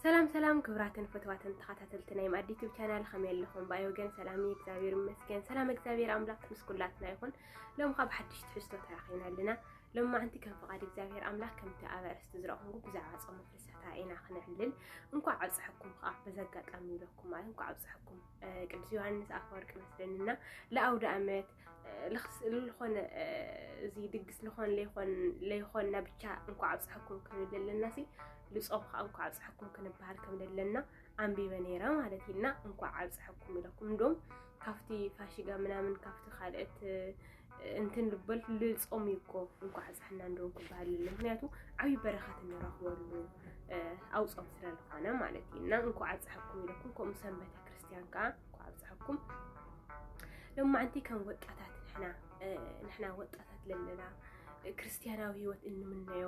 ሰላም ሰላም ክብራትን ፍትዋትን ተኸታተልቲ ናይ ማዕድ ዩቱብ ቻናል ከመይ ኣለኹም? ብኣይ ወገን ሰላም እዩ፣ እግዚኣብሔር ይመስገን። ሰላም እግዚኣብሔር ኣምላክ ምስ ኩላትና ይኹን። ሎም ካብ ሓድሽ ትሕዝቶ ተራኺብና ኣለና። ሎም ማዓንቲ ከም ፍቓድ እግዚኣብሔር ኣምላክ ከምቲ ኣብ ኣርእስቲ ዝረኹም ብዛዕባ ጾም ፍልሰታ ኢና ክነዕልል። እንኳዕ ኣብፀሐኩም ከዓ በዚ ኣጋጣሚ ይለኩም ማለት እንኳዕ ኣብፀሐኩም ቅዱስ ዮሃንስ ኣፈወርቂ መስለንና ለኣውደ ኣመት ልኾነ እዚ ድግስ ልኾን ለይኾን ለይኾንና ብቻ እንኳዕ ኣብፀሐኩም ክንብል ዘለና ሲ ልፆም ከዓ እንኳዕ ኣብፀሐኩም ክንበሃል ከም ዘለና ኣንቢበ ነይረ ማለት እዩ እና እንኳዕ ኣብፀሐኩም ኢለኩም እንዶም ካብቲ ፋሽጋ ምናምን ካብቲ ካልኦት እንትን ልበል ልፆም እዩ እኮ እንኳዕ ኣብፀሐና እንደውን ክበሃል ለ ምክንያቱ ዓብዪ በረኸት እንረኽበሉ ኣውፆም ስለዝኾነ ማለት እዩ እና እንኳዕ ኣብፀሐኩም ኢለኩም ከምኡ ሰንበተ ክርስቲያን ከዓ እንኳዕ ኣብፀሐኩም ሎማዓንቲ ከም ወጣታት ንሕና ንሕና ወጣታት ለለና ክርስትያናዊ ህይወት እንምነዮ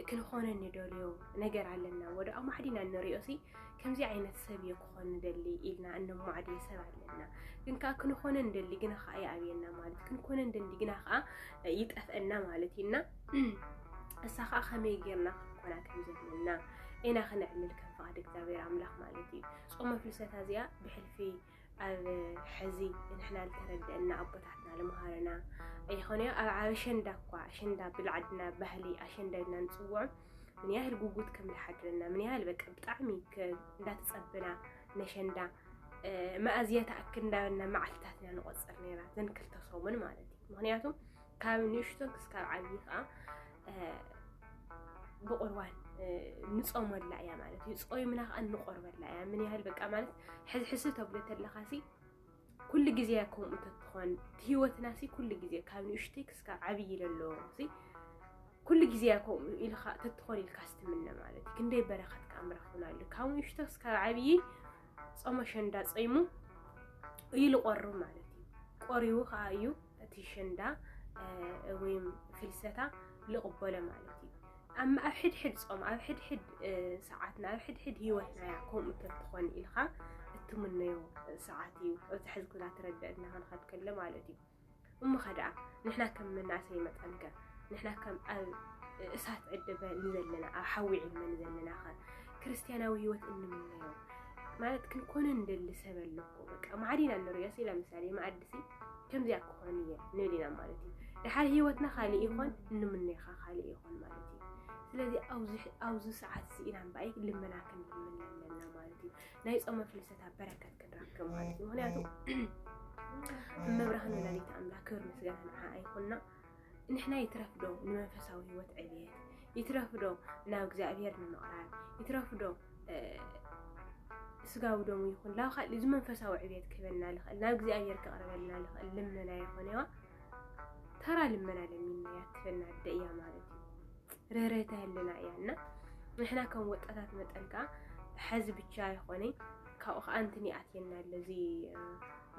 ክንኾነ ንደልዮ ነገር ኣለና ወደ ኣማዕዲና እንሪኦ ሲ ከምዚ ዓይነት ሰብ እየ ክኾን ንደሊ ኢልና እነማዕድዮ ሰብ ኣለና ግን ከዓ ክንኾነ ንደሊ ግና ከዓ ይኣብየና ማለት ክንኮነ ንደሊ ግና ከዓ ይጠፍአና ማለት እዩና እሳ ከዓ ከመይ ጌርና ክንኮና ከም ዘለና ኢና ክነዕልል ከም ፍቃድ እግዚኣብሔር ኣምላክ ማለት እዩ ጾመ ፍልሰታ እዚኣ ብሕልፊ ኣብ ሕዚ ንሕና ዝተረደአና ኣቦታትና ልምሃሩና ኣይኾነዮ ኣብ ኣሸንዳ እኳ ኣሸንዳ ብልዓድና ባህሊ ኣሸንዳ ኢልና ንጽውዖ ምን ያህል ጉጉት ከም ዝሓድረና ምን ያህል በቃ ብጣዕሚ እንዳተጸበና ነሸንዳ መኣዝያ ተኣክል እንዳበልና መዓልትታትና ንቆጽር ነይራ ዘን ክልተ ሰሙን ማለት እዩ ምክንያቱ ካብ ንእሽቶ ክስካብ ዓብዪ ከዓ ብቁርባን ንፆመላ እያ ማለት እዩ። ፆይምና ከዓ እንቆርበላ እያ። ምን ያህል በቃ ማለት ሕዝሕዚ ተብሎ ተለካ ሲ ኩሉ ግዜ ከምኡ ተትኾን ህይወትና ሲ ኩሉ ግዜ ካብ ንእሽተይ ክስካብ ዓብዪ ለሎ ሲ ኩሉ ግዜ ከምኡ ኢልካ ተትኾን ኢልካ ስትምነ ማለት እዩ። ክንደይ በረኸት ከዓ ምረኽብና ኣሎ። ካብ ንእሽቶ ክስካብ ዓብዪ ፆመ ሸንዳ ፀይሙ እዩ ልቆርብ ማለት እዩ። ቆሪቡ ከዓ እዩ እቲ ሽንዳ ወይም ፍልሰታ ልቕበሎ ማለት እዩ። ኣብ ሕድሕድ ጾም ኣብ ሕድሕድ ሰዓትና ኣብ ሕድሕድ ህይወትና እያ ከምኡ ተትኾን ኢልኻ እትምነዮ ሰዓት እዩ። ኣብዚ ሕዚ ኩናት ረድእና ክንኸድ ከሎ ማለት እዩ። እሞ ከደኣ ንሕና ከም መናእሰይ መጠን ከ ንሕና ከም ኣብ እሳት ዕድበ ንዘለና ኣብ ሓዊ ዕድመ ንዘለና ከ ክርስትያናዊ ህይወት እንምነዮ ማለት ክንኮነ ንደሊ ሰብ ኣለኩ በቃ ማዕዲና ንሪኦ ሲ ለምሳሌ እዚ ከምዚኣ ክኾን እየ ንብል ኢና ማለት እዩ ድሓር ሂወትና ካልእ ይኾን እንምነኻ ካልእ ይኾን ማለት እዩ ስለዚ ኣብዚ ሰዓት እዚ ኢና እምበኣይ ልመና ክንልምን ኣለና ማለት እዩ ናይ ፆመ ፍልሰታ በረከት ክንረክብ ማለት እዩ ምክንያቱ እመብርሃን ወላዲት ኣምላክ ክብር ምስጋና ንዓኣ ይኹና ንሕና ይትረፍ ዶ ንመንፈሳዊ ህይወት ዕብየት ይትረፍ ዶ ናብ እግዚኣብሔር ንምቕራብ ይትረፍ ዶ ስጋዊ ደሙ ይኹን ላብ ካልእ እዚ መንፈሳዊ ዕብየት ክህበና ልኽእል ናብ እግዚኣብሔር ክቕርበልና ልኽእል ልመና ይኾነዋ ተራ ልመና ለሚና ያትፈና ኣደ እያ ማለት እዩ ርህረተ ህልና እያ እና ንሕና ከም ወጣታት መጠን ከዓ ሕዚ ብቻ ይኾነ ካብኡ ከዓ እንትን ይኣትየና ኣሎ እዚ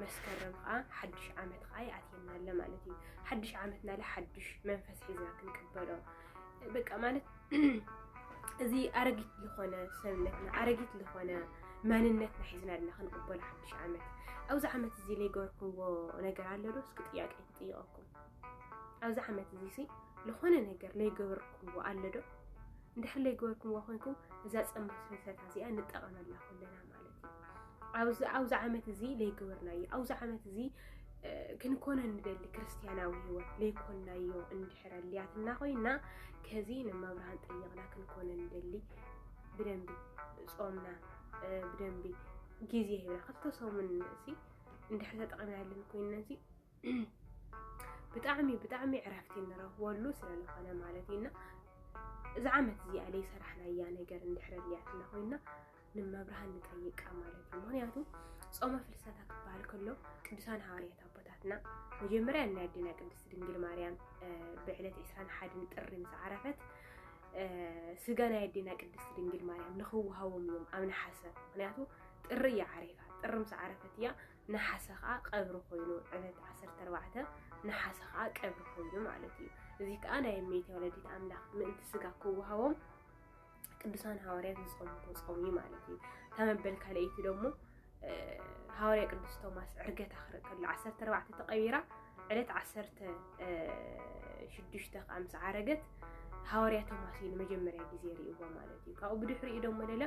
መስከረም ኸኣ ሓድሽ ዓመት ኸኣ ይኣትየና ኣሎ ማለት እዩ። ሓድሽ ዓመት ናለ ሓድሽ መንፈስ ሒዝና ክንቅበሎ በቃ ማለት እዚ ኣረጊት ዝኾነ ሰብነትና ኣረጊት ዝኾነ መንነትና ሒዝና ኣለና ክንቅበሎ ሓድሽ ዓመት። ኣብዚ ዓመት እዚ ዘይገበርኩምዎ ነገር ኣሎ ዶ? እስኪ ጥያቄ ትጥይቐኩም። ኣብዚ ዓመት እዚ ሲ ዝኾነ ነገር ዘይገበርኩምዎ ኣሎ ዶ? እንድሕር ዘይገበርኩምዎ ኮንኩም እዛ ፀምሪ ፍልሰታ እዚኣ ንጠቐመላ ኩልና ኣብዚ ኣብዚ ዓመት እዚ ዘይገበርናዮ ኣብዚ ዓመት እዚ ክንኮነ ንደሊ ክርስትያናዊ ህይወት ዘይኮናዮ እንድሕር ኣልያትና ኮይና ከዚ ንመብርሃን ጠየቕና ክንኮነ ንደሊ ብደንቢ ጾምና ብደንቢ ግዜ ሂብና ክልተ ሰሙን እዚ እንድሕር ተጠቒምናለን ኮይና እዚ ብጣዕሚ ብጣዕሚ ዕረፍቲ ንረኽበሉ ስለዝኾነ ማለት እዩና እዚ ዓመት እዚኣ ዘይሰራሕናያ ነገር እንድሕር ኣልያትና ኮይና ንመብርሃን ንጠይቃ ማለት እዩ። ምክንያቱ ጾመ ፍልሰታ ክበሃል ከሎ ቅዱሳን ሃዋርያት ኣቦታትና መጀመርያ ናይ ኣዴና ቅድስት ድንግል ማርያም ብዕለት 21 ጥሪ ምስ ዓረፈት ስጋ ናይ ኣዴና ቅድስት ድንግል ማርያም ንክወሃቦም እዮም ኣብ ነሓሰ ምክንያቱ ጥሪ እያ ዓሪፋ ጥሪ ምስ ዓረፈት እያ ነሓሰ ከዓ ቀብሪ ኮይኑ ዕለት 14 ነሓሰ ከዓ ቀብሪ ኮይኑ ማለት እዩ እዚ ከዓ ናይ እመቤት ወለዲት ኣምላክ ምእንቲ ስጋ ክወሃቦም ቅዱሳን ሃዋርያት ዝጾምዎ ጾም እዩ ማለት እዩ። እታ መበል ካልኣይቲ ደሞ ሃዋርያ ቅዱስ ቶማስ ዕርገት ኣኽረ ከሎ ዓሰርተ ኣርባዕተ ተቐቢራ ዕለት ዓሰርተ ሽዱሽተ ከዓ ምስ ዓረገት ሃዋርያ ቶማስ እዩ ንመጀመርያ ግዜ ርእይዎ ማለት እዩ። ካብኡ ብድሕሪኡ ደሞ ለለ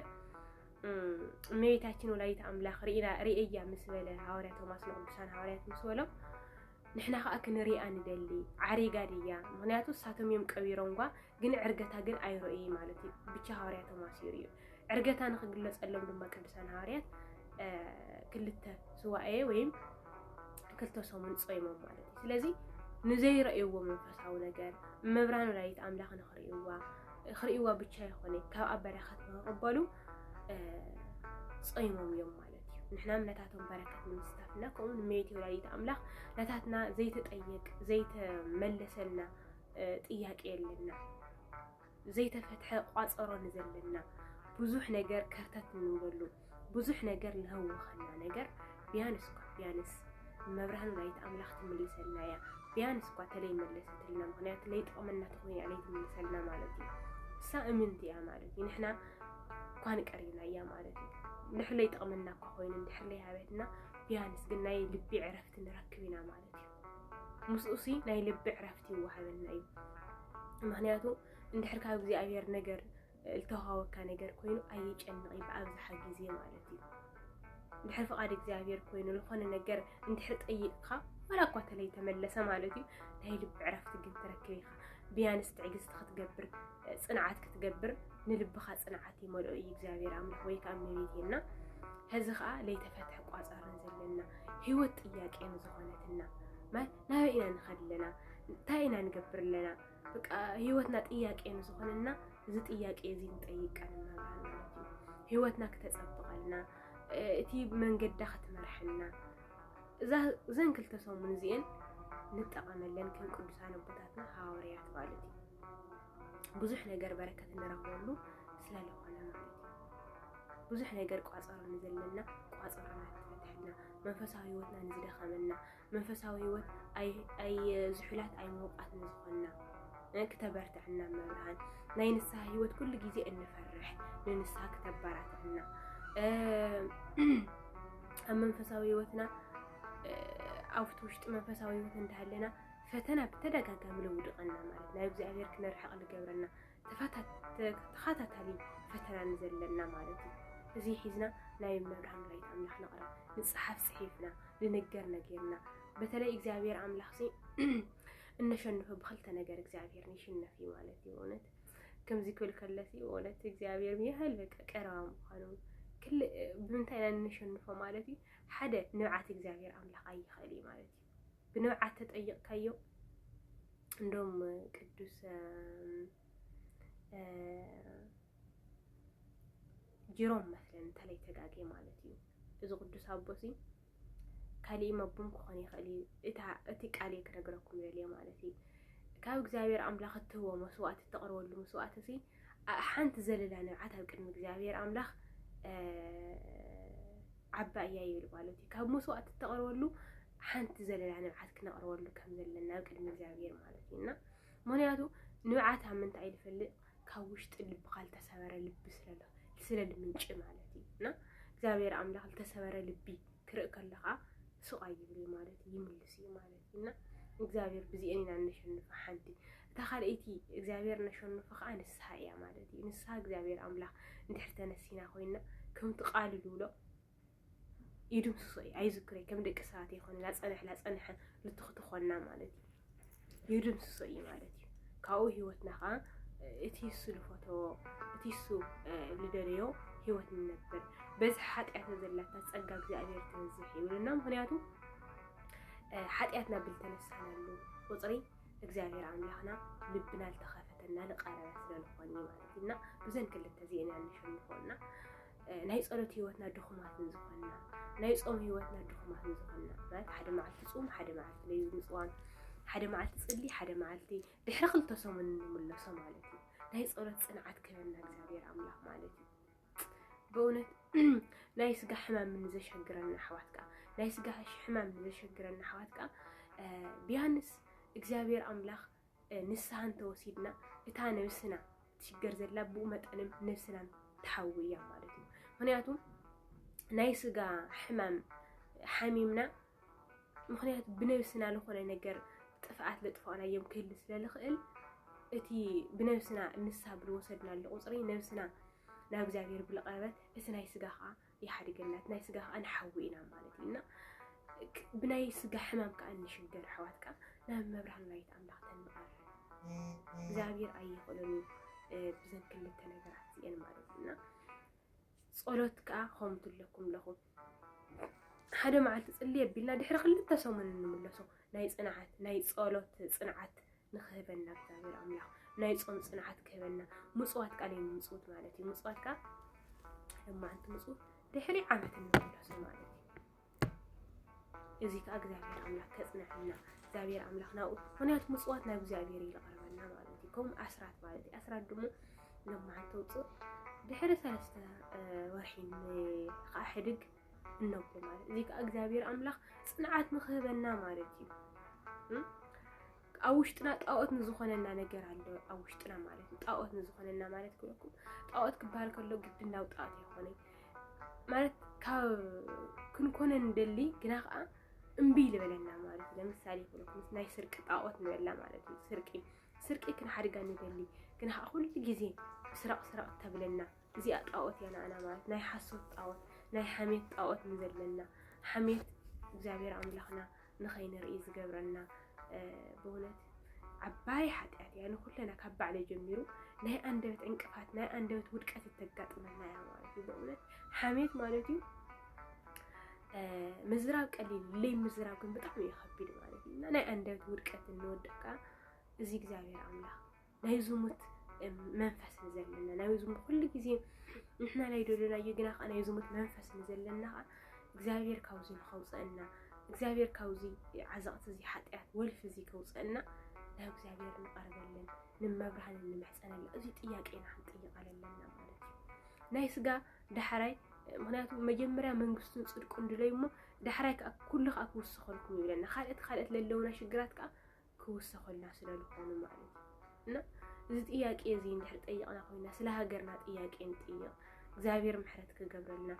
እመቤታችን ወላዲተ ኣምላኽ ርኢና ርእያ ምስ በለ ሃዋርያ ቶማስ ንቅዱሳን ሃዋርያት ምስ በሎም ንሕና ከዓ ክንሪኣ ንደሊ ዓሪጋ ድያ ምክንያቱ እሳቶም እዮም ቀቢሮም ጓ ግን ዕርገታ ግን ኣይረኡይ ማለት እዩ ብቻ ሃዋርያቶም ኣሲሩ እዩ ዕርገታ ንክግለፀሎም ድማ ቅዱሳን ሃዋርያት ክልተ ስዋኤ ወይም ክልተ ሰሙን ፀይሞም ማለት እዩ ስለዚ ንዘይረእይዎ መንፈሳዊ ነገር መብራን ወላዲት ኣምላኽ ንክርእይዋ ክርእይዋ ብቻ ይኮነ ካብኣ በረከት ንክቕበሉ ፀይሞም እዮም ማለት እዩ ንሕና ነታቶም በረከት ንምስታፍና ከምኡ ንመየት ወላዲት ኣምላኽ ነታትና ዘይተጠየቅ ዘይተመለሰልና ጥያቄ የለና ዘይተፈትሐ ቋፀሮ ንዘለና ብዙሕ ነገር ከርተት ንብለሉ ብዙሕ ነገር ለህወኸና ነገር ቢያንስ እኳ ቢያንስ መብርሃን ወላዲተ ኣምላኽ ትምልሰልና እያ። ቢያንስ እኳ ተለይ መለሰትልና፣ ምክንያቱ ለይጠቕመና ተኮይና ለይ ትምልሰልና ማለት እዩ። እሳ እምንቲ እያ ማለት እዩ። ንሕና እኳ ንቀሪና እያ ማለት እዩ። ንሕለይ ጠቕመና እኳ ኮይኑ እንድሕር ለይ ሃበትና ቢያንስ ግን ናይ ልቢ ዕረፍቲ ንረክብ ኢና ማለት እዩ። ምስኡሲ ናይ ልቢ ዕረፍቲ ይወሃበና እዩ ምክንያቱ እንድሕር ካብ እግዚኣብሔር ነገር ዝተዋሃወካ ነገር ኮይኑ ኣየጨንቕ እዩ ብኣብዝሓ ግዜ ማለት እዩ ድሕር ፍቓድ እግዚኣብሔር ኮይኑ ዝኾነ ነገር እንድሕር ጠይቕካ ዋላ እኳ ተለይ ተመለሰ ማለት እዩ ናይ ልቢ ዕረፍቲ ግን ትረክብ ኢኻ ብያንስ ትዕግስቲ ክትገብር ፅንዓት ክትገብር ንልብኻ ፅንዓት ይመልኦ እዩ እግዚኣብሔር ኣምላኽ ወይ ከዓ እመቤቴና ሕዚ ከዓ ለይተፈትሐ ቋፃርን ዘለና ህይወት ጥያቄ ንዝኾነትና ማይ ናበይ ኢና ንኸድ ኣለና እንታይ ኢና ንገብር ኣለና በቃ ህይወትና ጥያቄ ንዝኾነና እዚ ጥያቄ እዚ ንጠይቀን መብርሃን ማለት እዩ ህይወትና ክተፀብቐልና እቲ መንገዳ ክትመርሐና እዘን ክልተ ሰሙን እዚአን ንጠቐመለን ከም ቅዱሳን ኣቦታትና ሃዋርያት ማለት እዩ ብዙሕ ነገር በረከት እንረክበሉ ስለለኾነ ማለት እዩ። ብዙሕ ነገር ቋፀሮ ንዘለና ቋፀሮና ትፈትሐልና፣ መንፈሳዊ ህይወትና ንዝደኸመና፣ መንፈሳዊ ህይወት ዝሑላት ኣይ ምውቃት ንዝኾንና ክተበርትዐና መብርሃን ናይ ንስሓ ህይወት ኩሉ ግዜ እንፈርሕ ንንስሓ ክተበራትዐና ኣብ መንፈሳዊ ህይወትና ኣብቲ ውሽጢ መንፈሳዊ ህይወት እንዳሃለና ፈተና ብተደጋጋሚ ለውድቐና ማለት ናብ እግዚኣብሔር ክንርሕቕ ዝገብረና ተኸታታሊ ፈተና ንዘለና ማለት እዩ እዚ ሒዝና ናይ መብርሃን ወላዲት ኣምላኽ ንቕረብ ንፅሓፍ ፅሒፍና ልንገር ነገርና በተለይ እግዚኣብሔር ኣምላኽ ሲ እነሸንፎ ብክልተ ነገር እግዚኣብሔር ንሽነፍ እዩ ማለት እዩ እውነት ከምዚ ክብል ከለሲ እውነት እግዚኣብሔር ያህል በቃ ቀረባ ምዃኑ ብምንታይ ኢና እንሸንፎ ማለት እዩ ሓደ ንብዓት እግዚኣብሔር ኣምላኽ ኣይኽእል እዩ ማለት እዩ ብንብዓት ተጠይቕካዮ እንዶም ቅዱስ ጅሮም መስለን እንተለይ ተጋጌ ማለት እዩ እዚ ቅዱስ ኣቦሲ ካሊእ መቡም ክኾን ይኽእል እዩ እታ እቲ ቃል እየ ክነግረኩም ዘልየ ማለት እዩ ካብ እግዚኣብሔር ኣምላኽ እትህቦ መስዋእቲ እተቕርበሉ መስዋእቲ ሲ ሓንቲ ዘለላ ንብዓት ኣብ ቅድሚ እግዚኣብሔር ኣምላኽ ዓባይ እያ ይብል ማለት እዩ። ካብ መስዋእቲ እተቕርበሉ ሓንቲ ዘለና ንብዓት ክነቕርበሉ ከም ዘለና ኣብ ቅድሚ እግዚኣብሔር ማለት እዩ እና ምክንያቱ ንብዓት ኣብ ምንታይ እዩ ዝፈልጥ ካብ ውሽጢ ልብኻ ዝተሰበረ ልቢ ስለሎ ስለ ልምንጭ ማለት እዩ እና እግዚኣብሔር ኣምላኽ ዝተሰበረ ልቢ ክርኢ ከለኻ ሱቕ ኣይብል እዩ ማለት እዩ ይምልስ እዩ ማለት እዩ እና ንእግዚኣብሔር ብዚኤን ኢና እነሸንፋ ሓንቲ እታ ካልኣይቲ እግዚኣብሔር እነሸንፎ ከዓ ንስሓ እያ ማለት እዩ ንስሓ እግዚኣብሔር ኣምላኽ እንድሕር ተነሲና ኮይና ከምቲ ቃሉ ዝብሎ ይድምስሶ እዩ ኣይዝክረይ ከም ደቂ ሰባት ይኮነ ላፀንሕ ላፀንሐ ልትኽቲ ኮና ማለት እዩ ይድምስሶ እዩ ማለት እዩ ካብኡ ህይወትና ከዓ እቲ እሱ ዝፈተዎ እቲ እሱ ዝደለዮ ህይወት ንነብር በዚ ሓጢኣተ ዘላታ ፀጋ እግዚኣብሔር ትበዝሕ ይብሉና ምክንያቱ ሓጢኣትና ብልተነሳናሉ ቁፅሪ እግዚኣብሔር ኣምላኽና ልብና ልተኸፈተና ልቀረበ ስለልኾን እዩ ማለት እዩ እና ብዘን ክልተ እዚአን እያ ንሸንፎ እና ናይ ፀሎት ህይወትና ድኹማት ንዝኾንና ናይ ፆም ህይወትና ድኹማት ንዝኾንና ማለት ሓደ መዓልቲ ፅም ሓደ መዓልቲ ለዩ ምፅዋም ሓደ መዓልቲ ፅሊ ሓደ መዓልቲ ድሕሪ ክልተ ሰሙን ንምለሶ ማለት እዩ ናይ ፀሎት ፅንዓት ክህበና እግዚኣብሔር ኣምላኽ ማለት እዩ ብእውነት ናይ ስጋ ሕማም ንዘሸግረና ኣሕዋት ከዓ ናይ ስጋ ሕማም ንዘሸግረና ኣሕዋት ከዓ ቢያንስ እግዚኣብሔር ኣምላኽ ንስሓ እንተወሲድና እታ ነብስና ትሽገር ዘላ ብኡ መጠንም ነብስናን ትሓዊ እያ ማለት እዩ ምክንያቱ ናይ ስጋ ሕማም ሓሚምና ምክንያቱ ብነብስና ልኾነ ነገር ጥፍኣት ለጥፋእናዮም ክህሊ ስለ ልኽእል እቲ ብነብስና ንስሓ ብልወሰድና ቁፅሪ ነብስና ናብ እግዚኣብሔር ብልቐረበት እቲ ናይ ስጋ ከዓ ይሓድገና እቲ ናይ ስጋ ከዓ ንሓዊ ኢና ማለት እዩ እና ብናይ ስጋ ሕማም ከዓ እንሽገር ኣሕዋት ከዓ ናብ መብርሃን ወላዲተ ኣምላኽ ተንቐር እግዚኣብሔር ኣይኽእሎን እዩ ብዘን ክልተ ነገራት እዚአን ማለት እዩ እና ጸሎት ከኣ ከምኡ ትብለኩም ኣለኹ ሓደ መዓልቲ ጽሊ ኣቢልና ድሕሪ ክልተ ሰሙን እንምለሶ ናይ ጽንዓት ናይ ጸሎት ጽንዓት ንክህበና እግዚኣብሔር ኣምላኽ ናይ ጾም ጽንዓት ክህበና ምጽዋት ቃል ምጽውት ማለት እዩ ምጽዋት ከኣ ሓደ መዓልቲ ምጽውት ድሕሪ ዓመት እንምለሶ ማለት እዩ እዚ ከዓ እግዚኣብሔር ኣምላክ ከፅነዐልና እግዚኣብሔር ኣምላክ ናብኡ ምክንያቱ ምፅዋት ናብ እግዚኣብሔር እዩ ዝቐርበና ማለት እዩ ከምኡ ኣስራት ማለት እዩ ኣስራት ድሞ ለማዓንቲ ውፅእ ድሕሪ ሰለስተ ወርሒ ከዓ ሕድግ እነብሎ ማለት እዚ ከዓ እግዚኣብሔር ኣምላክ ፅንዓት ንክህበና ማለት እዩ ኣብ ውሽጥና ጣዖት ንዝኾነና ነገር ኣሎ ኣብ ውሽጥና ማለት እዩ ጣዖት ንዝኾነና ማለት ክለኩም ጣዖት ክበሃል ከሎ ግድን ናብ ጣዖት ኣይኮነን ማለት ካብ ክንኮነ ንደሊ ግና ከዓ እምቢ ልበለና ማለት እዩ ለምሳሌ ይኹን ናይ ስርቂ ጣዖት ንበላ ማለት እዩ ስርቂ ስርቂ ክንሓድጋ ንደሊ ግና ከዓ ኩሉ ግዜ ስረቕ ስረቕ ተብለና እዚኣ ጣዖት እያ ንኣና ማለት ናይ ሓሶት ጣዖት ናይ ሓሜት ጣዖት ንዘለና ሓሜት እግዚኣብሔር ኣምላኽና ንኸይንርኢ ዝገብረና ብእውነት ዓባይ ሓጢኣት እያ። ንኩለና ካብ ባዕለይ ጀሚሩ ናይ ኣንደበት ዕንቅፋት ናይ ኣንደበት ውድቀት እተጋጥመና እያ ማለት እዩ። ብእውነት ሓሜት ማለት እዩ ምዝራብ ቀሊል ለይ ምዝራብ ግን ብጣዕሚ እዩ ከቢድ ማለት እዩ እና ናይ ኣንደበት ውድቀት እንወድቅ እዚ እግዚኣብሔር ኣምላኽ ናይ ዝሙት መንፈስ ንዘለና ናይ ዝሙት ኩሉ ግዜ ንሕና ናይ ደለናዮ ግና ከዓ ናይ ዝሙት መንፈስ ንዘለና ከዓ እግዚኣብሔር ካብዚ ንኸውፀአና እግዚኣብሔር ካብዚ ዓዘቕቲ እዚ ሓጢኣት ወልፊ እዚ ከውፀአና ናብ እግዚኣብሔር ንቐርበለን ንመብርሃን ንምሕፀነላ እዚ ጥያቄና ክንጥይቅ ኣለና ማለት እዩ ናይ ስጋ ዳሕራይ ምክንያቱ መጀመርያ መንግስቱን ፅድቁን ድለዩ እሞ ዳሕራይ ከዓ ኩሉ ከዓ ክውስኸልኩም ይብለና ካልኦት ካልኦት ለለውና ሽግራት ከዓ ክውሰኹልና ስለልኾኑ ማለት እዩ እና እዚ ጥያቄ እዚ እንድሕር ጠይቕና ኮይና ስለ ሃገርና ጥያቄ ንጥይቕ እግዚኣብሔር ምሕረት ክገብረልና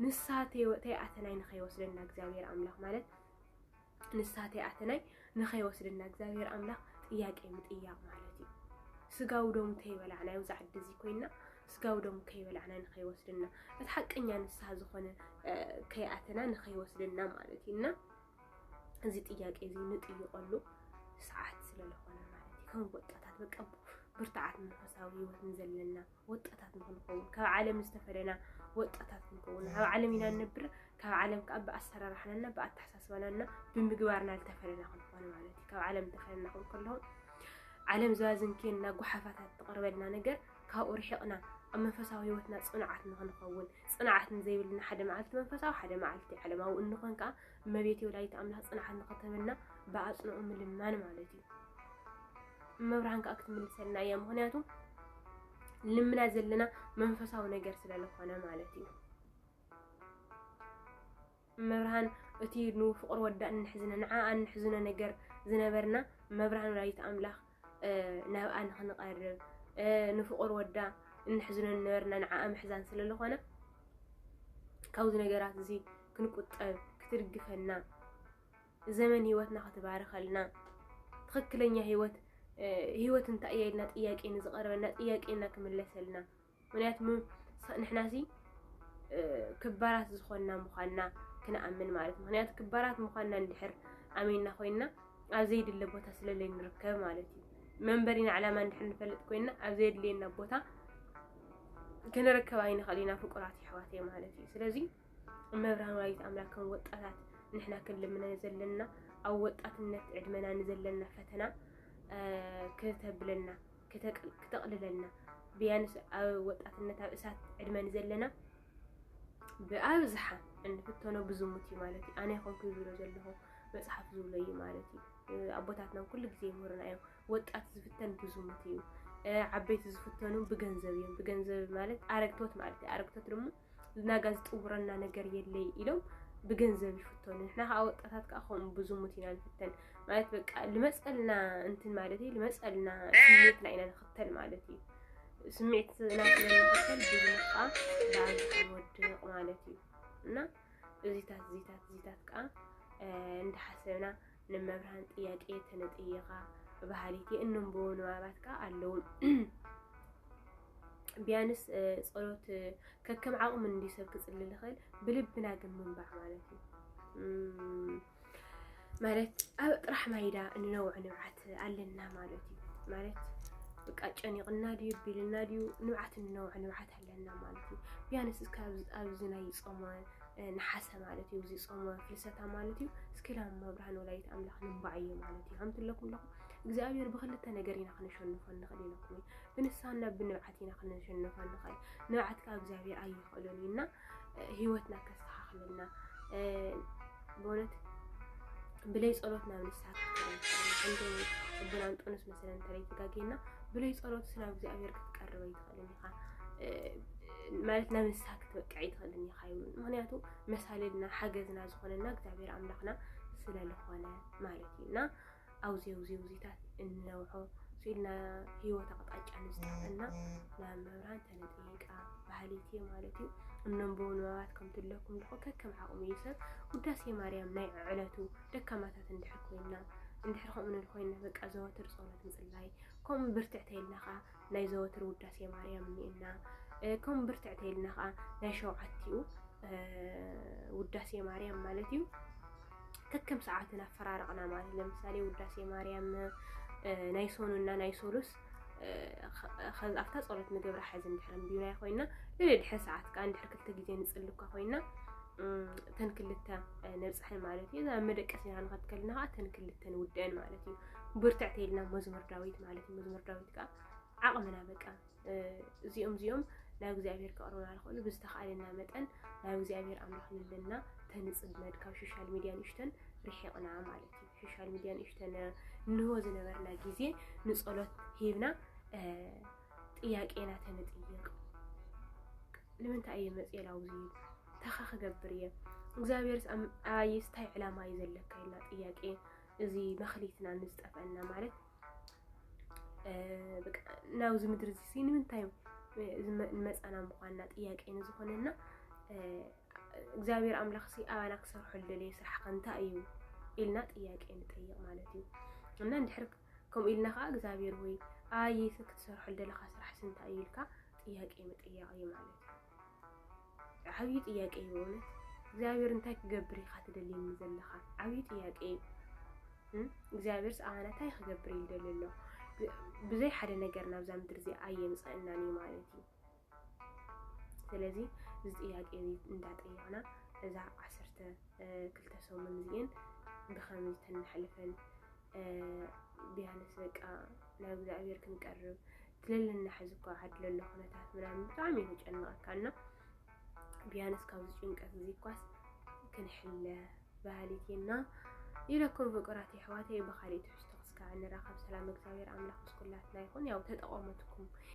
ንስሓ ተይኣተናይ ንኸይወስደና እግዚኣብሔር ኣምላኽ ማለት ንስሓ ተይኣተናይ ንኸይወስደና እግዚኣብሔር ኣምላኽ ጥያቄ ምጥያቕ ማለት እዩ ስጋዊ ደሙ ተይበላዕና ኣብዚ ዓዲ እዚ ኮይና ስጋዊ ደሙ ከይበላዕና ንኸይወስደና እቲ ሓቀኛ ንስሓ ዝኾነ ከይኣተና ንኸይወስደና ማለት እዩ እና እዚ ጥያቄ እዚ ንጥይቀሉ ሰዓት ስለለኾነ ማለት እዩ ከም ወጣታት በቃ ብርትዓት መንፈሳዊ ህይወት ንዘለና ወጣታት ንክንኸውን ካብ ዓለም ዝተፈለና ወጣታት ክንከውን ኣብ ዓለም ኢና ንነብር ካብ ዓለም ከዓ ብኣሰራርሓናና ብኣተሓሳስባናና ብምግባርና ዝተፈለና ክንኾን ማለት እዩ ካብ ዓለም ዝተፈለና ክንከለኹ ዓለም ዝባዝንኬና ጓሓፋታት ትቕርበልና ነገር ካብኡ ርሒቕና ኣብ መንፈሳዊ ህይወትና ፅኑዓት ንኽንኸውን ፅንዓት ንዘይብልና ሓደ መዓልቲ መንፈሳዊ ሓደ መዓልቲ ዓለማዊ እንኾን ከዓ እመቤት ወላዲት ኣምላኽ ፅንዓት ንኽትህበና ብኣፅንኦ ምልማን ማለት እዩ። እመብርሃን ከዓ ክትምልሰልና እያ። ምክንያቱ ልምና ዘለና መንፈሳዊ ነገር ስለዝኾነ ማለት እዩ። እመብርሃን እቲ ንፍቁር ወዳ እንሕዝነ ንዓኣ እንሕዝኖ ነገር ዝነበርና እመብርሃን ወላዲት ኣምላኽ ናብኣ ንክንቐርብ ንፍቁር ወዳ እንሕዝኖ ዝነበርና ንዓኣ ምሕዛን ስለ ዝኾነ ካብዚ ነገራት እዚ ክንቁጠብ ክትድግፈና ዘመን ህይወትና ክትባርኸልና ትኽክለኛ ህይወት ህይወት እንታይ እያ ኢልና ጥያቄ ንዝቐረበና ጥያቄና ክምለሰልና ምክንያቱ ንሕናሲ ክባራት ዝኾንና ምዃንና ክንኣምን ማለት ምክንያቱ ክባራት ምዃንና እንድሕር ኣሚንና ኮይንና ኣብ ዘይድለ ቦታ ስለለይ ንርከብ ማለት እዩ መንበሪና ዕላማ እንድሕር ንፈልጥ ኮይንና ኣብ ዘየድልየና ቦታ ክንርከብ ኣይንኽእል ኢና ፍቁራት ይሕዋት እየ ማለት እዩ ስለዚ እመብርሃን ወላዲት ኣምላክ ከም ወጣታት ንሕና ክንልምነ ዘለና ኣብ ወጣትነት ዕድመና ንዘለና ፈተና ክተብለና ክተቕልለልና ብያንስ ኣብ ወጣትነት ኣብ እሳት ዕድመ ንዘለና ብኣብዝሓ እንፍተኖ ብዝሙት እዩ ማለት እዩ። ኣነ ይኹን ክብሎ ዘለኹ መፅሓፍ ዝብሎ እዩ ማለት እዩ። ኣቦታትና ኩሉ ግዜ ይምህሩና እዮም። ወጣት ዝፍተን ብዝሙት እዩ። ዓበይቲ ዝፍተኑ ብገንዘብ እዮም። ብገንዘብ ማለት ኣረግቶት ማለት እዩ። ኣረግቶት ድማ ናጋ ዝጥውረና ነገር የለይ ኢሎም ብገንዘብ ይፍተኑ ንሕና ከዓ ወጣታት ከዓ ከምኡ ብዙሙት ኢና ንፍተን ማለት በቃ ልመፀልና እንትን ማለት እዩ ልመፀልና ስሜትና ኢና ንኽተል ማለት እዩ ስሜትና ስለንኽተል ብዙሙት ከዓ ብዓል ዝወድቕ ማለት እዩ እና እዚታት እዚታት እዚታት ከዓ እንዳሓሰብና ንመብርሃን ጥያቄ ተነጥይኻ ብባህሊቲ እንንብቡ ንባባት ከዓ ኣለዉ ቢያንስ ጸሎት ከከም ዓቕሙ እንዲዩ ሰብ ክጽሊ ልኽእል ብልብና ግን ምንባዕ ማለት እዩ ማለት ኣብ ጥራሕ ማይዳ እንነውዕ ንብዓት ኣለና ማለት እዩ ማለት ብቃ ጨኒቕና ድዩ ቢልና ድዩ ንብዓት እንነውዕ ንብዓት ኣለና ማለት እዩ ቢያንስ እስከ ኣብዚ ናይ ጾመ ነሓሰ ማለት እዩ እዚ ጾመ ፍልሰታ ማለት እዩ እስኪ ላም መብርሃን ወላዲት ኣምላኽ ንባዕዩ ማለት እዩ ከምቲ ለኩም ለኹም እግዚኣብሔር ብክልተ ነገር ኢና ክንሸንፎ ንኽእል ኢለኩም እዩ ብንስሓና ብንብዓት ኢና ክንሸንፎ ንኽእል ንብዓት ካብ እግዚኣብሔር ኣይኽእሎን እዩ እና ህይወትና ከስተኻኽለልና በእውነት ብለይ ጸሎት ናብ ንስሓ ክንከይድ ኣቦና እንጦንስ መሰለን ተለይ ተጋጌና ብለይ ጸሎት ናብ እግዚኣብሔር ክትቀርበ ይትኽእል ማለት ናብ እንስሳ ክትበቅዕ ኣይትኽእልን ኢኻ ይብሉ። ምክንያቱ መሳልልና ሓገዝና ዝኾነና እግዚኣብሔር ኣምላኽና ስለዝኾነ ማለት እዩ እና ኣብዚ ኣብዚ ውዚታት እንነውሖ ስኢልና ህይወት ኣቕጣጫ ንዝጠፍአና ናብ መብራን ተነጠይቃ ባህሊቲ ማለት እዩ እነንቦ ንባባት ከም ትለኩም ድኾ ከከም ዓቕሙ እዩ ሰብ ውዳሴ ማርያም ናይ ዕዕለቱ ደካማታት እንድሕር ኮይና እንድሕር ከምኡ ኮይና በቃ ዘወትር ጸሎት ምጽላይ ከምኡ ብርትዕተይልና ከዓ ናይ ዘወትር ውዳሴ ማርያም እኒእና ከምኡ ብርትዕ ተይልና ከዓ ናይ ሸውዓቲኡ ውዳሴ ማርያም ማለት እዩ ከከም ሰዓትን ኣፈራረቕና ማለት ለምሳሌ ውዳሴ ማርያም ናይ ሶኑና ናይ ሶሉስ ኣብታ ፀሎት ንገብራ ሓዚ እንድሕር እንድዩናይ ኮይና ልዕሊ ድሕሪ ሰዓት ከዓ እንድሕር ክልተ ግዜ ንፅሊ እኳ ኮይና ተን ክልተ ነብፅሐን ማለት እዩ እዛ መደቀሲና ንኸትከልና ከዓ ተን ክልተ ንውድአን ማለት እዩ ብርትዕ ተይልና መዝሙር ዳዊት ማለት እዩ መዝሙር ዳዊት በቃ ዓቕምና በቃ እዚኦም እዚኦም ናብ እግዚኣብሔር ከቕርቡና ዝኽእሉ ብዝተኽኣለና መጠን ናብ እግዚኣብሔር ኣምላኽ ልልና ተንፅመድ ካብ ሶሻል ሚድያ ንእሽተን ርሒቕና ማለት እዩ ሶሻል ሚድያ ንእሽተን እንሆ ዝነበርና ግዜ ንፀሎት ሂብና ጥያቄና ተንጥይቕ ንምንታይ እየ መፅኤ ላውዚ ተኻ ክገብር እየ እግዚኣብሔርስ ኣየስታይ ዕላማ እዩ ዘለካ ኢልና ጥያቄ እዚ መኽሊትና ንዝጠፍአና ማለት ናብዚ ምድሪ እዚ ንምንታይ ንመፃና ምኳንና ጥያቄ ንዝኾነና እግዚኣብሔር ኣምላኽ ሲ ኣባና ክሰርሖ ዝደለየ ስራሕ ከ እንታይ እዩ ኢልና ጥያቄ ንጠይቅ ማለት እዩ እና እንድሕር ከምኡ ኢልና ከዓ እግዚኣብሔር ወይ ኣየይ ክትሰርሖ ዝደለካ ስራሕ ሲ እንታይ እዩ ኢልካ ጥያቄ ምጥያቅ እዩ ማለት እዩ ዓብዪ ጥያቄ እዩ በእውነት እግዚኣብሔር እንታይ ክገብር ኢኻ ትደልየኒ ዘለኻ ዓብዪ ጥያቄ እዩ እግዚኣብሔር ሰኣነ እንታይ ክገብር እዩ ደልዩ ኣሎ ብዘይ ሓደ ነገር ናብዛ ምድሪ እዚ ኣየምፀእናን እዩ ማለት እዩ ስለዚ እዚ ጥያቄ እዚ እንዳጠየቕና እዛ ዓሰርተ ክልተ ሰሙን እዚኤን ብኸመይ ተናሕልፈን ቢያንስ በቃ ናብ እግዚኣብሔር ክንቀርብ ትለለና ሕዚ እኮ ዓዲ ለሎ ኩነታት ምናምን ብጣዕሚ እዩ ዘጨንቐካ እና ቢያንስ ካብዚ ጭንቀት እዚ እኳስ ክንሕለ ባህሊት እና ኢለኩም ፍቅራት የሕዋተይ ብካሊእ ትሕዝቶ ክስካዕ ንራኸብ ሰላም እግዚኣብሔር ኣምላኽ ምስ ኩላትና ይኹን ያው ተጠቐመትኩም